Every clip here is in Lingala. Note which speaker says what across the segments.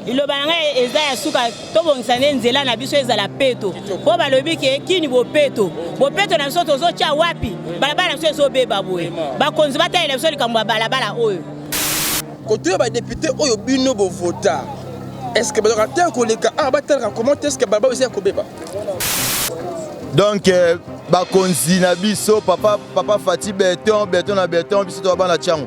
Speaker 1: liloba na ngai eza ya suka tobongisa nde nzela na biso ezala peto mpo balobi ke kini bopeto bopeto na biso tozotya wapi balabala na biso ezobeba boye bakonzi batalela biso likambo ya balabala oyo koto
Speaker 2: ya badepute oyo bino bovota estce bazalaka te koleka awa batalaka comment estce balabala eza ya kobeba donc
Speaker 3: euh, bakonzi na biso papa, papa fati beton beton na beton biso toa bana tiango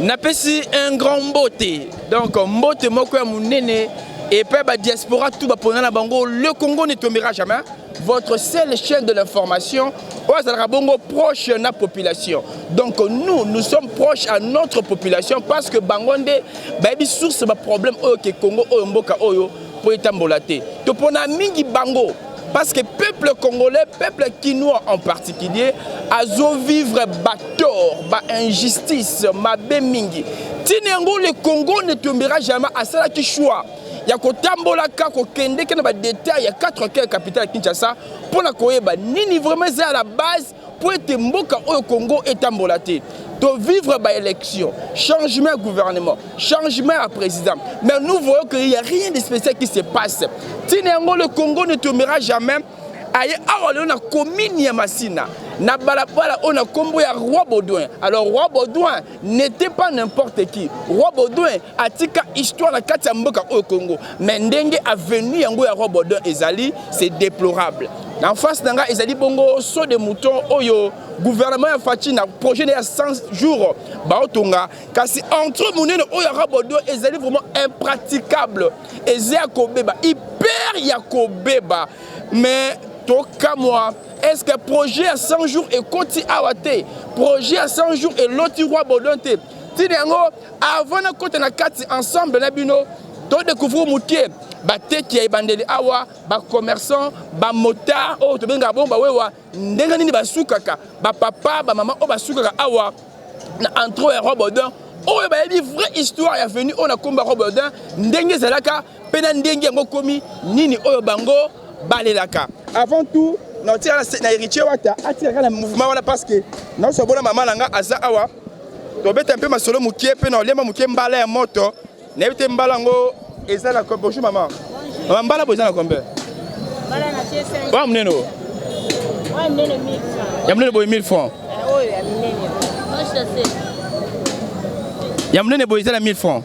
Speaker 2: napesi un grand mbote donc mbote moko ya monene epai ba diaspora tout bapona na bango le congo ne tombera jamais votre seule chaîne de l'information oyo azalaka bongo proche na population donc nous nous sommes proches à notre population parce que bango nde bayebi source baproblème oyo ke congo oyo mboka oyo mpo etambola te topona mingi bango Parce que peuple congolais, peuple kinois en particulier, azo vivre bator, ba injustice, mabe mingi. Tinengo le Congo ne tombera jamais à cela qui choix. ya kotambolaka kokendeke na badetail ya 4 coeur capitale ya kinshasa mpo na koyeba nini vraiment eza ya la base mpo ete mboka oyo Congo etambola te to vivre ba élection changement ya gouvernement changement ya président mais nous voyons que il y a rien de spécial qui se passe ntina yango le Congo ne tombera jamais aye awa lelo na commune ya Masina na balabala oyo na nkombo ya roi baudouin alors roi baudouin n'était pas n'importe qui roi baudouin atika histoire na kati ya mboka oyo congo mais ndenge avenue yango ya roi baudouin ezali c'est déplorable en face na ngai ezali bongo saut de mouton oyo gouvernement ya faci na projet na ya 100 jours baotonga kasi entre monene oyo ya roi baudouin ezali vraiment impraticable eza ya kobeba hyper ya kobeba mais tokamwa est ce que projet ya 100 jours ekoti awa te projet ya 100 jours eloti roi baudouin te ntina yango avant nakota na kati ensemble na bino todécouvrir moke bateki ya ebandeli awa bacommerçant bamotard oyo tobengaka bongo bawewa ndenge nini basukaka bapapa bamama oyo basukaka awa na entro ya robodin oyo bayebi vraie histoire ya venu oyo na nkombo ya robodin ndenge ezalaka mpe na ndenge yango komi nini oyo bango balelaka avant tout naotika na héritier wata atikaka na mouvement wana parce que naoso bona mama na nga aza awa tobeta mpe masolo moke mpe naolemba moke mbala ya moto nayebi te mbala yango eza na bonjour mama mama mbala boyo eza na combien oya monene oyo ya monene boye 1000 francs ya monene boye eza na 1000 francs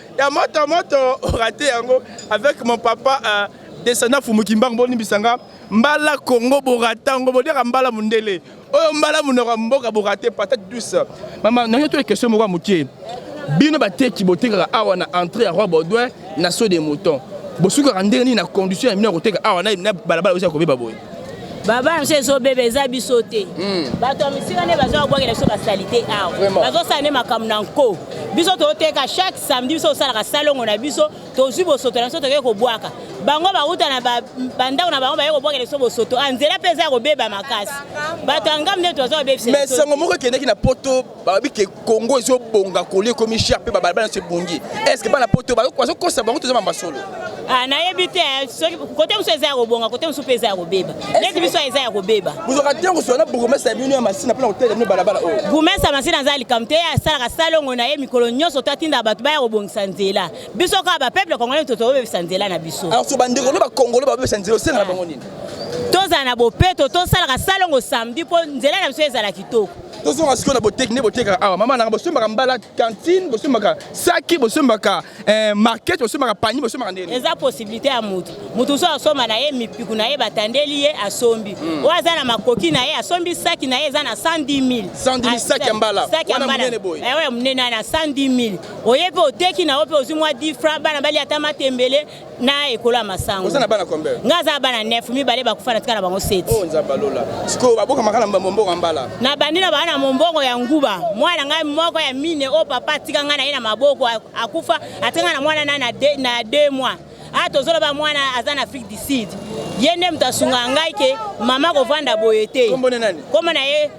Speaker 2: ya moto moto orate yango avec mon papa uh, descendant fumukimbangu bolimbisa nga mbala kongo borata yango boliaka mbala mondele oyo mbala monoko ya mboka borate patate douce mama nange to question moko ya moke bino bateki botekaka awa na entrée ya roi baudouin na saut de mouton bosukaka ndenge nini na condition ya bino ya koteka awa na balabala oza kobeba boye baba
Speaker 1: yango ezobeba eza biso te hmm. bato ya misika nde baza kobwakela biso basalite awa bazosala nde makambo na nko biso toteka chaque samedi biso tosalaka salongo na biso tozwi bosoto na biso tokei kobwaka bango bauta na bandako na bango baye kobwakela biso bosoto a ah, nzela mpe eza kobeba makasi bato ya ngambo nde toza kobebisa mais sango moko ekendeki
Speaker 2: na poto balobi ke congo ezobonga koli ekomi cher mpe babalabala nyonso ebongi estce bana poto bazokosa bango toza mamba solo ah, nayebi
Speaker 1: te eh, soki kote mosusu eza ya kobonga kote mosusu mpe eza ya kobeba neti biso eza ya kobeba bozwaka ntango sola na
Speaker 2: bourgmestre ya bino ya masina mpo na kotelela bino balabala oyo oh. bourgmestre ya masina aza
Speaker 1: likambo te ye asalaka salongo na ye mikolo nyonso to atindaka bato baya kobongisa nzela biso kaka bapeuple congolais to tobebisa nzela na biso alors so bandeko no bakongolo
Speaker 2: babebisa nzela osenga na bango nini tozala na
Speaker 1: bopeto tosalaka salongo samedi mpo nzela na biso ezala kitoko tozonga sikoyo na
Speaker 2: boteki nde botekaka awa mama nanga bosombaka mbala cantine bosombaka saki bosombaka eh, market bosombaka pani bosombaka ndeni eza possibilité ya motu
Speaker 1: motu so asomba na ye mipiku na ye batandeli ye asombi hmm. oyo aza na makoki na ye asombi saki na ye eza na 110 000 ah, saki ya mbala
Speaker 2: wana monene
Speaker 1: boye eh, oyo monene
Speaker 2: na
Speaker 1: 110 000 oye mpe oteki na yo mpe ozwi mwa 10 franc bana bali ata matembele na ekolo ya masango oza na bana combien nga
Speaker 2: aza bana 9
Speaker 1: mibale bakufa na tika na bango 7 oh nzambe alola
Speaker 2: sikoyo baboka maka na mombongo mbala na bandi na bana
Speaker 1: mombongo ya nguba mwana ngai moko ya mine o oh, papa atika ngai na ye na maboko akufa atika ngai na mwana na na 2 mois a ah, tozoloba mwana aza na afrique du sud ye nde moto asunga ngai ke mama kovanda boye te kombo na
Speaker 2: ye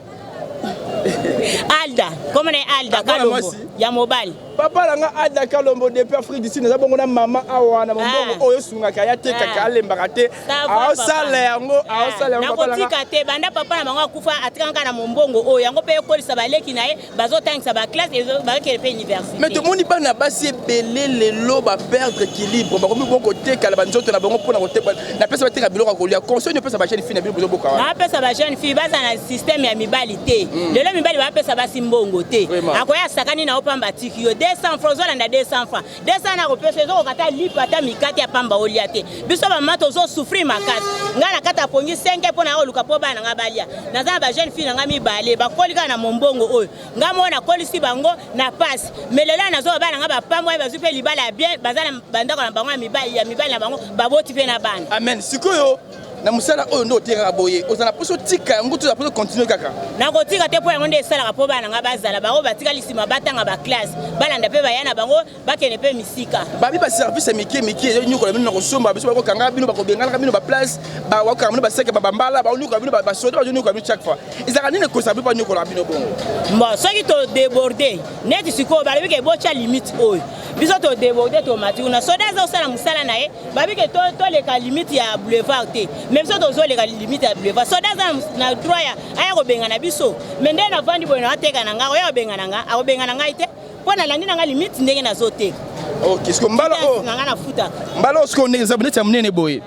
Speaker 1: alda kombo na ye alda Akola kalombo mwasi. ya mobali papa na nga ada
Speaker 2: kalombo depuis afrique du sud naza bongo na mama awa na mombongo Ah. oyo esungaka ye atekaka Ah. alembaka te Ça va, papa. aosala yango aosala yango papa na nga nakotika
Speaker 1: te banda papa na bango akufa atikanga kaka na mombongo oyo yango mpe ekolisa baleki na ye bazotangisa baclasse bakele mpe université mais tomoni bana basi
Speaker 2: ebele lelo baperdre équilibre bakomi bo kotekala banzoto na bango mpona kotekala napesa bateka biloko ya kolia conseil opesa bajeune fille na bino bozoboka wana bapesa bajeune fille
Speaker 1: baza na système ya mibali te hmm. lelo mibali bapesa basi mbongo te akoya asakani na yo mpamba atiki yo 200 francs ozolanda 200 francs desa na kopesa ezokoka ata lipa ata mikate ya pamba olia te biso bamama tozosouffrir makasi ngai na kati ya pongi 5 mpo na koluka mpo bana na ngai balia naza na bajeune fille na ngai mibale bakoli kaka na mombongo oyo ngai moko nakolisi bango na pasi me lelo ya nazoba bana ngai bapambwai bazwi mpe libala ya bien baza na bandako na bango ya mibali na bango baboti mpe na bana amen sikoyo
Speaker 2: na mosala oyo nde otekaka boye oza na poso tika yango toza poso continue kaka nakotika te mpo yango
Speaker 1: nde esalaka mpo bana ngai bazala bango batikali nsima batanga baklasse balanda mpe baya na bango bakende mpe misika babi baservice ya
Speaker 2: mike mike ezonyokola bino na kosomba biso bakokanga bino bakobengalaka bino baplace bakokanga bino baseke babambala baonyokola bino basoda bazonyokola bino chaque fois ezalaka nini ekosa bino banyokolaka bino bongo bon soki
Speaker 1: todeborde neti sikoyo balobi ke botya limite oyo biso todeborde tomati kuna soda azosala mosala na ye babi ke toleka limite ya boulevard te me biso tozoleka limite ya boulevard soda aza na droit ya aya kobengana biso me nde navandi boye na ateka na ngai oya kobengana ngai akobengana ngai te mpo nalandi na ngai limite ndenge nazoteka ok siko mbala
Speaker 2: oyo na ngai nafutaka
Speaker 1: mbala oyo siko eza
Speaker 2: neti ya monene boye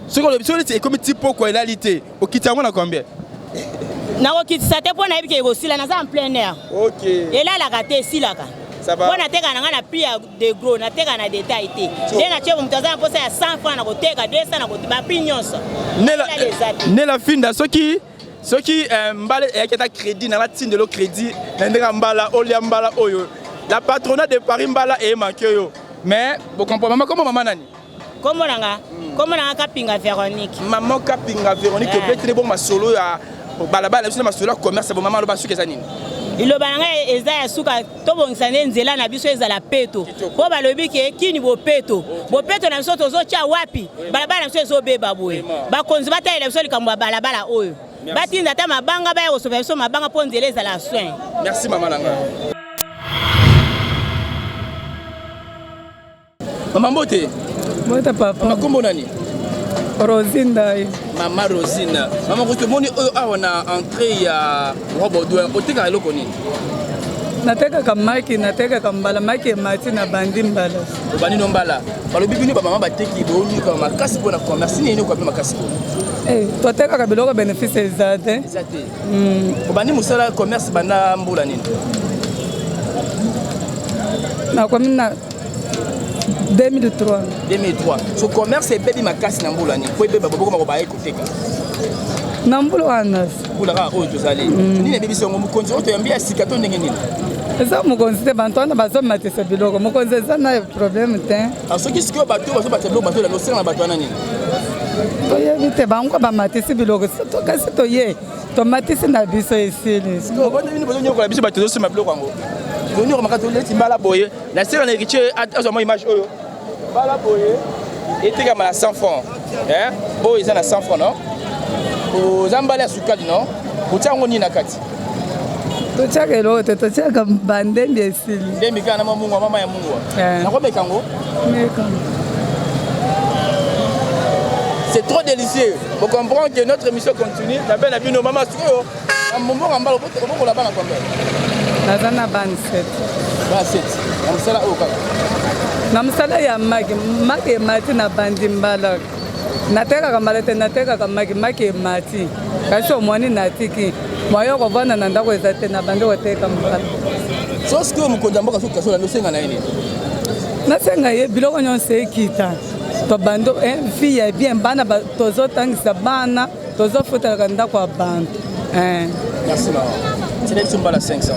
Speaker 2: soki olobi soki neti ekomi ti poko elali te okiti yango na combien
Speaker 1: nakokitisa te mpo nayebi ke ekosila naza en plein air elalaka
Speaker 2: te
Speaker 1: esilaka mpo nateka na ngai na prix ya de gros nateka na detail te nde natye moto aza na mposa ya 100 franc na koteka 200 na koteka baprix nyonso
Speaker 2: nela finda soki soki eh, mbala eyaki ata crédit na natindelo crédit na ndenge ya mbala olia mbala oyo la patrona de paris mbala eyemanke yo mais bokompromama koma mama nani Kombo na nga,
Speaker 1: kombo na nga Kapinga Veronique. Maman Kapinga
Speaker 2: Veronique, eh. obetele bongo masolo ya balabala na biso na masolo ya commerce, bo maman aloba suki eza nini? liloba na ngai
Speaker 1: eza ya suka tobongisa nde nzela na biso ezala peto mpo balobi ke kini bopeto bopeto na biso tozotya wapi balabala na biso ezobeba boye bakonzi batalela biso likambo ya balabala oyo batinda ata mabanga baya kosopa biso mabanga mpo nzela ezala soin merci mama na ngai
Speaker 2: Mama mbote. Mbote papa. Mama
Speaker 4: kombo nani?
Speaker 2: Rosine
Speaker 4: Ndaye. Mama
Speaker 2: Rosine. Mama ko tomoni oyo awa na entrée ya Robodoin. Otekaka eloko nini?
Speaker 4: natekaka maki natekaka mbala maki emati na bandi mbala obandi no mbala
Speaker 2: balobi bino bamama bateki boyika makasi mpo na commerce nini okoape makasi mpo eh, totekaka
Speaker 4: biloko bénéfice eza te eza te hmm.
Speaker 2: obandi mosala commerce banda mbula nini
Speaker 4: nakomi na 2003 2003 so commerce
Speaker 2: ebebi makasi na mbula nini mpo ebeba bobokoma kobaye koteka
Speaker 4: na mbula wana mbula kaka oyo tozali
Speaker 2: mm. nini ebebisi yango mokonzi oyo toyambi ya sika to ndenge nini eza mokonzi
Speaker 4: te bato wana bazomatisa biloko mokonzi eza na
Speaker 2: problème
Speaker 4: te
Speaker 2: ah, soki
Speaker 4: sikoyo
Speaker 2: bato bazobatisa biloko bato elanda osenga
Speaker 4: na bato
Speaker 2: wana nini
Speaker 4: toyebi te bango bamatisi biloko kasi toye tomatisi na biso esili bino bozonyokola
Speaker 2: biso bato tozosema biloko yango tozonyoka maka toleti mbala boye Na sela na Eritie azwa mwa image oyo. Bala boye etekama na 100 francs. Hein? Oyo eza na 100 francs non? Oza mbala ya sukali non? Otia yango nini na kati? totyaka
Speaker 4: eloko te totyaka bandembi esili ndembi kaka na mamungwa
Speaker 2: mama ya mungwa eh. nakomeka yango meka c'est trop délicieux. Vous comprenez que notre émission continue. La belle a vu nos mamans. Mbongo mbala obokola bana combien? Naza na
Speaker 4: bana 7. Bana 7.
Speaker 2: Na mosala oyo kaka. Na mosala
Speaker 4: ya maki, maki emati na bandi mbala. Natekaka mbala te natekaka maki, maki emati. Kasi omwani natiki. Moyo kovanda na ndako eza te na bandi koteka mbala. So sikoyo
Speaker 2: mokonzi ya mboka soki kasola nde osenga na ye nini?
Speaker 4: Nasenga ye biloko nyonso ekita. Tobando eh, vie ya bien bana tozotangisa bana Tozo fotelaka ndako ya bantu. Eh. Merci
Speaker 2: maman. Tina biso mbala 500.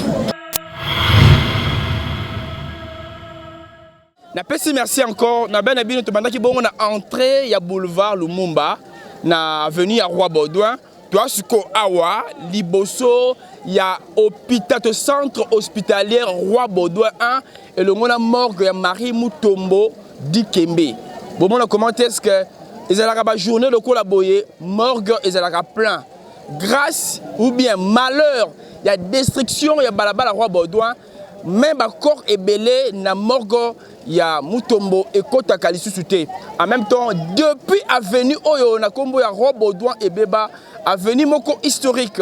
Speaker 2: napesi merci encore na bana bino tobandaki bongo na entrée ya boulevard lumumba na avenue ya roi baudouin toa sikoyo awa liboso ya hôpital to centre hospitalier roi baudouin 1 elongo na morgue ya Marie Mutombo Dikembe. Bomona comment est-ce que ezalaka ba journée lokola boye morgue ezalaka plein grâce ou bien malheur ya destruction ya balabala roi Baudouin me bakor ebele na morgo ya mutombo ekotaka lisusu te en même temps depuis avenue oyo na nkombo ya roi baudouin ebeba avenue moko historique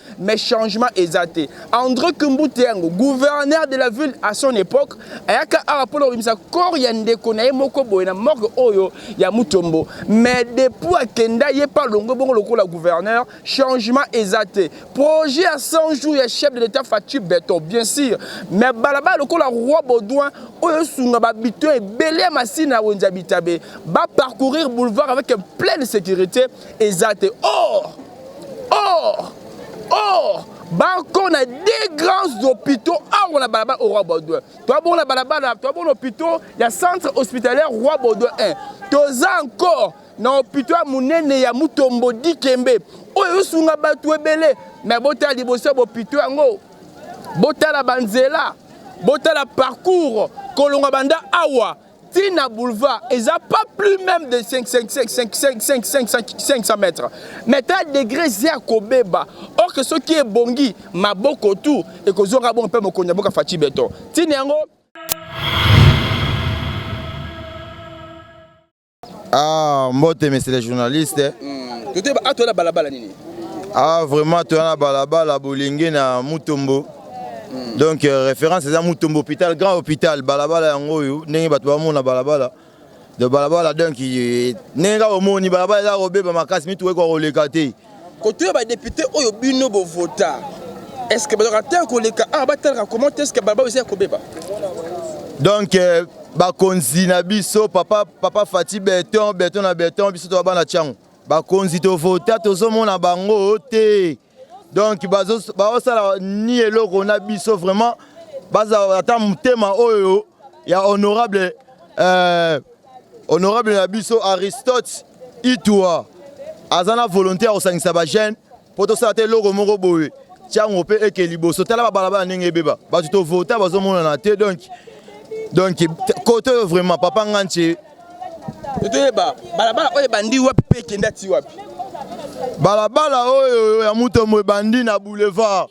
Speaker 2: mais changement eza te André Kimbute yango gouverneur de la ville à son époque ayaka awa mpo na kobimisa corps ya ndeko na ye moko boye na morgue oyo ya Mutombo mais depuis akenda ye mpe alongwe bongo lokola gouverneur changement eza te projet ya 100 jours ya chef de l'état Fatshi Beton bien sûr mais balabala lokola roi Baudouin oyo esunga babito ebele ya masina ya wenze ya bitabe ba parcourir boulevard avec pleine sécurité eza te or or or bako na deux grands hôpitaux awa na balabala au roi baudouin toa bongo na balabala toa bongo na hôpitaux ya centre hospitalière roi baudouin 1 toza encore na hôpitaux ya monene ya mutombo dikembe oyo ezosunga bato ebele me botala liboso ya bopito yango botala banzela botala parcours kolonga banda awa ti na boulevard eza pas plus même de 500 mètres mais ta degré eza ya kobeba or que soki ebongi maboko tout ekozonga bongo mpe mokonzi ya boka faci beton ntina yango
Speaker 3: Ah, mbote, monsieur le journaliste. Hmm. Tote ba atwa ah, na balabala nini? Ah, vraiment, toya na balabala bolingi na Mutombo. mm. donc euh, référence eza mutombo hôpital grand hôpital balabala yango oyo ndenge bato bamona balabala de balabala donc ndenge kaka omoni balabala eza kobeba makasi mitu ekoka koleka te koto ya badepute
Speaker 2: oyo bino bovota est ce que bazalaka te koleka awa batalaka comment est ce que balabala eza ya kobeba
Speaker 3: donc euh, bakonzi na biso papa, papa fati beton beton na beton biso toa bana ntango bakonzi tovota tozomona bango te donc baosala ni eloko na biso vraiment bazala ata motema oyo ya honorable euh, honorable na biso aristote itua aza na volonté ya kosangisa bajeune mpo tosala te eloko moko boye ntango mpe eke liboso tala babalabala ndenge ebeba bato tovota bazomonana te donk donk kote oyo vraiment papa nganche toyeba balabala
Speaker 2: oyo ebandi wapi mpe ekende ati wapi balabala
Speaker 3: oyo ya mutombo ebandi na boulevard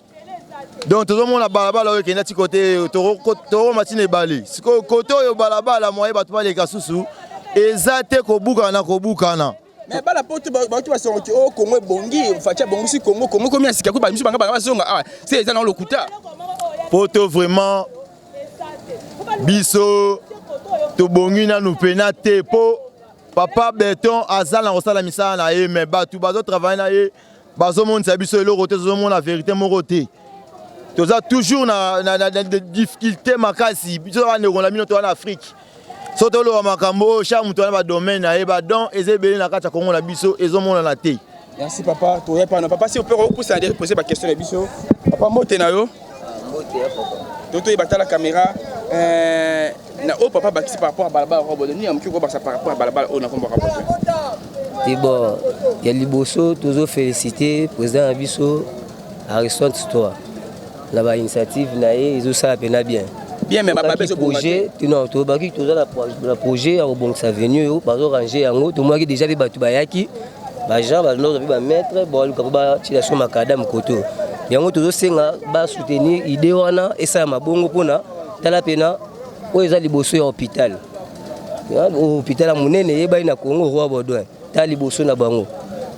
Speaker 3: donc tozomona balabala oyo ekenda ti kote tokoma ntina ebale sikoyo kote oyo balabala moye bato baleka susu eza te kobukana na kobukana mais
Speaker 2: bala poto bauti basango ti o oh, kongo ebongi faci abongisi kongo kongo ekomi ya sika ko bamisu banga banga bazonga awa ah, se eza na lokuta poto
Speaker 3: vraiment biso tobongi nanu mpena te mpo papa beton aza na kosala misala na ye me bato bazotravaille na ye bazomonisa biso eloko te tozomona verite moko te toza toujours na, na, na, na difficulté makasi biso bandeko na bino toza na afrique so toloba makambo oyo char moto wana badomaine na ye badon eza ebele na kati ya kongo na biso ezomonana te merci papa toya
Speaker 2: pana papa si ope kokusa na depose baquestion na biso papa mbote na yo Toto ye batala kamera eh, na oyo papa bakisi par rapport ya balabala kwa bozo nini ya moke kobakisa par rapport ya balabala oyo nakombaka bozo te
Speaker 5: bon ya liboso tozo félicité président na biso aristone toi na bainitiative na ye ezosala mpena bien bien mais bababe
Speaker 2: ezo projet non
Speaker 5: tobaki toza na projet ya kobongisa avenue oyo bazo ranger yango tomonaki déjà mpe bato bayaki ba gens balinda kozwa mpe ba maître baluka mpo batyela biso makadame koto yango tozosenga basoutenir idée wana esala mabongo mpona tala mpena oyo eza liboso ya hôpital hôpital ya monene eyebani na congo roi baudouin tala liboso na bango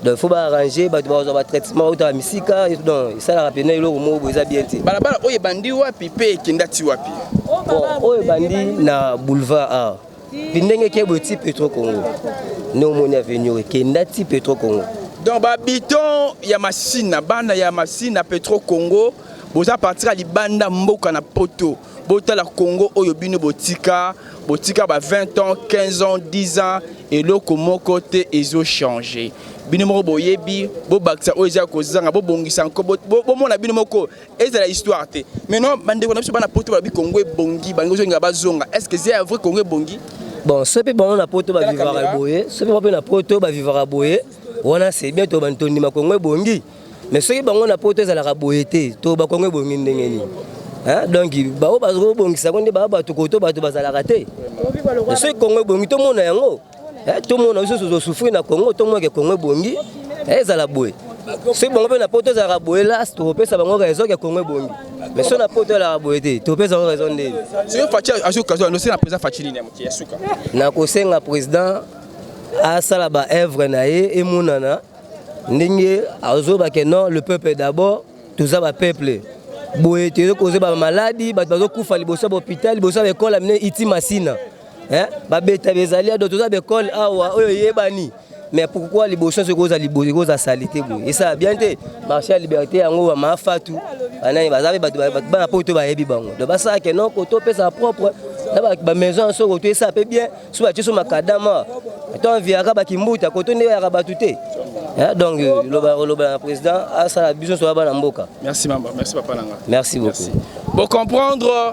Speaker 5: donc faut baarrange bato bakozwa batraitement bautaka misika donc esalaka mpena eloko moko boye eza bien te balabala oyo ebandi wapi
Speaker 2: mpe ekenda ti wapi oyo
Speaker 5: ebandi na boulevard a Pindenge ke boye ti Petro Congo. Ne omoni avenue oyo kenda ti Petro Congo. Donc ba habitants
Speaker 2: ya Masina, bana ya Masina Petro Congo boza partir libanda mboka na poto botala Congo oyo bino botika botika ba 20 ans 15 ans 10 ans eloko moko te ezo changer bino moko boyebi bobakisa oyo eza kozanga bobongisa nko bomona bino moko ezala histoire te mais non bandeko na biso bana poto balobi kongo ebongi balingi ozonga bazonga est ce que eza ya vrai kongo ebongi bon soki mpe bango
Speaker 5: na poto bavivaka boye soki bango mpe na poto bavivaka boye wana c'est bien to tondima kongo ebongi mais soki bango na poto ezalaka boye te to bakongo ebongi ndenge nini donc baoyo bazobongisa yango nde baa bato koto bato bazalaka te soki kongo ebongi tomona yango Eh, tomona biso tozosufri na congo tomona ke congo ebongi eh, ezala boye soki bango mpe na poto ezalaka boye las tokopesa bango raison ke congo ebongi mais so na poto elaka boye te topesa yango raison
Speaker 2: ndeni nakosenga
Speaker 5: président asala baœuvre na ye emonana ndenge azoba ke non le peuple d'abord toza bapeuple boye toyei kozwa bamaladi bato bazokufa liboso ya bahopital liboso ya baekole amine iti masina Eh, babeta bezali ado toza bekole awa oyo eyebani mais pourquoi liboso soki oza liboso ekoza salite boye esa bien te marché ya liberté yango ba mafatu banani baza mpe bato bana poto bayebi bango donc basala ke noko topesa propre na bamaison ya soko to esa mpe bien so batie so makadama to enviaka bakimbuta koto nde oyaka bato te eh, donc loba oloba na président asala biso soya bana mboka merci mama merci papa
Speaker 2: nanga merci beaucoup
Speaker 5: bocomprendre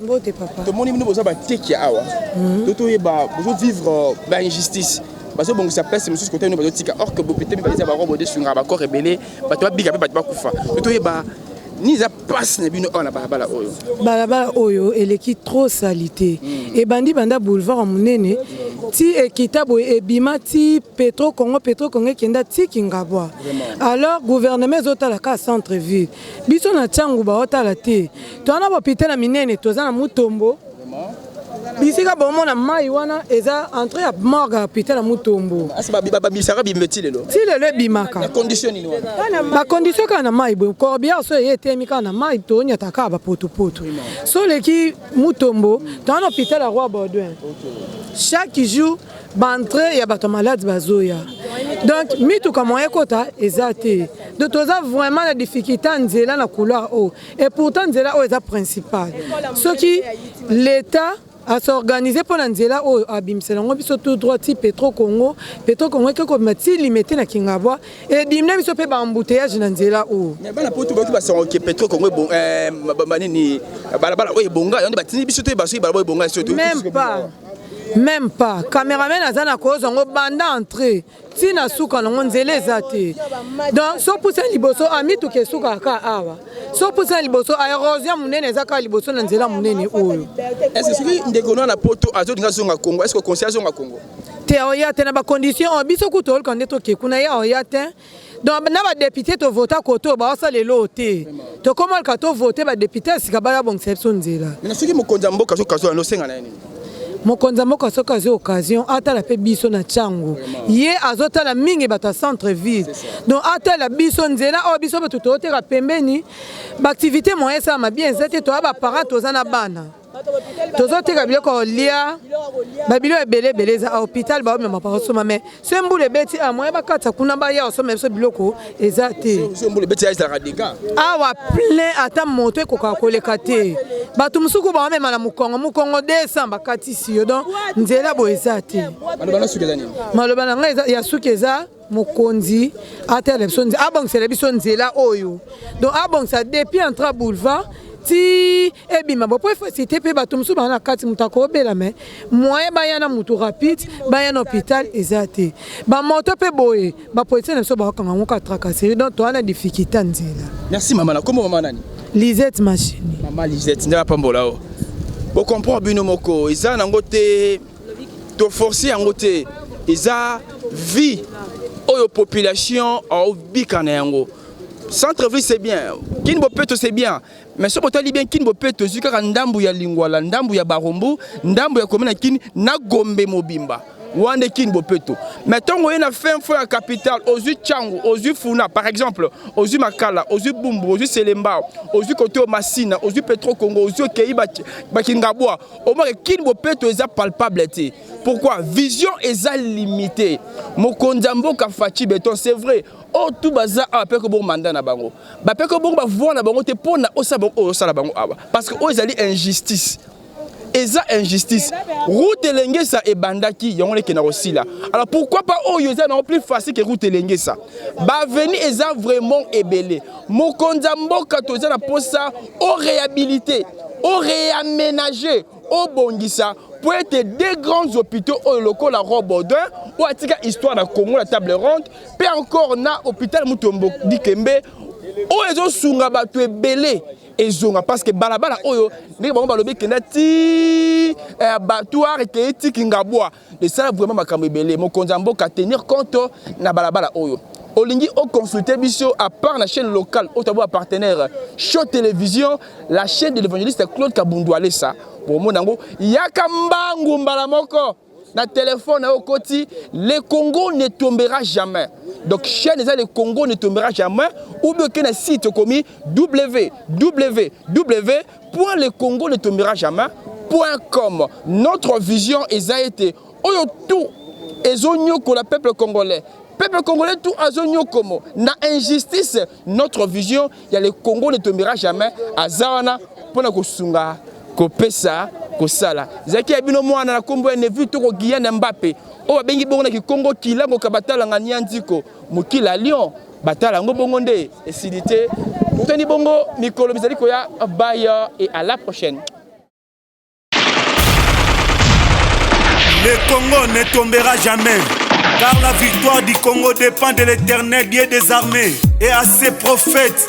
Speaker 2: Mbote papa. Tomoni
Speaker 6: bino boza bateki
Speaker 2: awa. Mhm. To toyeba bozo vivre euh, ba injustice. Bazo bongisa place mosusu kote bino bazo tika or que bopete mpe baza barobo de sunga ba corps ebele bato babika mpe bato bakufa. To toyeba ni eza mpasi na bino awa na balabala oyo balabala oyo eleki
Speaker 6: trop salite mm. ebandi banda boulevard ya monene ti ekita boye ebima ti petro congo petro congo ekenda ti kingabwa alors gouvernement ezotala kaka centre ville Biso na Tshangu baotala te. Toza na bapitala minene, toza na Mutombo. Bisika bomona mai wana eza entre ya morgue ya pitala Mutombo. Asi ah, babisaka
Speaker 2: bimbe ti lelo? Ti lelo ebimaka. Na
Speaker 6: condition nini
Speaker 2: wana? Ba condition kaka na
Speaker 6: mai boye. Corbière so eye etemi kaka na mai tonyata kaka ba potopoto. So leki Mutombo, toza na hôpital ya Roi Baudouin. Chaque jour ba entrée ya bato malade bazoya donc mituka moyen ekota eza te donc toza vraiment na difficulté ya nzela na couloir oyo et pourtant nzela oyo eza principale soki l'état asorganize mpo na nzela oyo abimisela yango biso tout droit ti petro congo petro congo eke kobima ti limete na kingabwa edimina biso mpe baembouteillage na nzela oyo bana poto bayoki basango
Speaker 2: ke petro congo eh, nini balabala oyo ebonga yango nde batindi biso te basoki balabala ebonga soki même pas
Speaker 6: Meme pas cameraman aza na kozwa ngo banda entre ti na suka nango nzela eza te donc so pusa liboso amituka ah, esukaka ka awa so pusa liboso aerosion ah, monene eza kaka liboso na nzela monene oyo ese soki ndeko
Speaker 2: na na poto azolinga azonga congo eske okonsi azonga congo te aoya te na
Speaker 6: bacondition oyo biso kutu olka nde toke kuna ye aoya te donc na badepute tovota kote oyo baosala eloo te tokoma luka tovote badepute
Speaker 2: ya
Speaker 6: sika
Speaker 2: baya
Speaker 6: bongisa
Speaker 2: biso nzela soki
Speaker 6: mokonzi
Speaker 2: ya
Speaker 6: mboka
Speaker 2: soki
Speaker 6: azwala
Speaker 2: nosenga
Speaker 6: na ye nini mokonzi ya mboka soki azwi occasion atala mpe biso na ntango ye azotala mingi bato ya centre ville donc atala biso nzela oyo biso bato tooteka pembeni baaktivité moyen esalama bien eza te toya baparent toza na bana tozoteka biloko ya kolia babilo ebele ebele eza hopital baomema bakosoma me so mbula ebeti a ah, moye bakata kuna baya osoma biso biloko eza te awa plein ata moto ekokaka koleka te bato mosusu ko baomema na mokongo mokongo 200 bakatisi yo don nzela boye eza te maloba na ngai ya suki eza mokonzi atala biso abongisela biso nzela oyo donc abongisa depuis entra boulevard ti ebima bo mpo efasite mpe bato mosusu baa na kati moto akobela me moyen baya na motu rapide baya na hôpital eza te bamoto mpe boye bapolisie na biso bakokanga yango ka tracasserie donc toa na difficulté ya nzela merci mama na kombo mama
Speaker 2: nani lisette machine
Speaker 6: mama lisette nde
Speaker 2: apambola o bokomprendre bino moko eza nango te To force yango te eza vie oyo population obika na yango. Centre ville c'est bien, Kin Bopeto c'est bien, mais soki otali bien Kin Bopeto ezwi kaka ndambu ya Lingwala, ndambu ya Barumbu, ndambu ya commune ya Kin na Gombe mobimba. Wande kin bopeto mais tongo ye na fin fo ya capital ozui changu ozui funa par exemple ozui makala ozui bumbu ozui selembao ozui kote masina ozui petro congo ozui okei bakingabwa omake kin bopeto eza palpable te pourquoi vision eza limite mokonzi ya mboka faci beton c'est vrai oyo tu baza awa mpe kobongo manda na bango bape kobongo bavoi na bango te mpo na osala bango oyo osala bango awa parce que oyo ezali injustice eza injustice route elengesa ebandaki yango lekenda kosila alors pourquoi pas oyo eza nango plus facile que route elengesa baveni eza vraiment ebele mokonzi ya mboka toza na mposa o réhabilite o reamenager, obongisa mpo ete deux grands hopitaux oyo lokola Roi Baudouin oyo atika histoire na Congo na table ronde mpe encore na hopital Mutombo Dikembe oyo ezosunga bato ebele ezonga parce que balabala oyo ndenge bango balobi ekenda ti eh, abattoir ekei ti Kingabwa Esala vraiment makambo ebele mokonzi ya mboka tenir compte na balabala oyo olingi o consulter biso à part la chaîne locale au tabou partenaire show télévision la chaîne de l'évangéliste Claude Kabundu Alessa pour mon nango yaka mbangu mbala moko na téléphone au koti le Congo ne tombera jamais donc chaîne eza le Congo ne tombera jamais ou bien que na site komi www Point le Congo ne tombera jamais. Point comme notre vision eza ete oyo tout ezonyokola peuple congolais peuple congolais tout azonyokomo na injustice notre vision ya le congo ne tombera jamais aza wana mpo na kosunga kopesa kosala ezalaki ya bino mwana na nkombo ya nevi toko giyane mbape oyo babengi bongo na kikongo kilango kabatalanga nianziko Mokili ya Lyon batala yango bongo nde esili te. Toni bongo mikolo mizali koya bye et à la prochaine.
Speaker 7: Le Congo ne tombera jamais, car la victoire du Congo dépend de l'éternel Dieu des armées et à ses prophètes.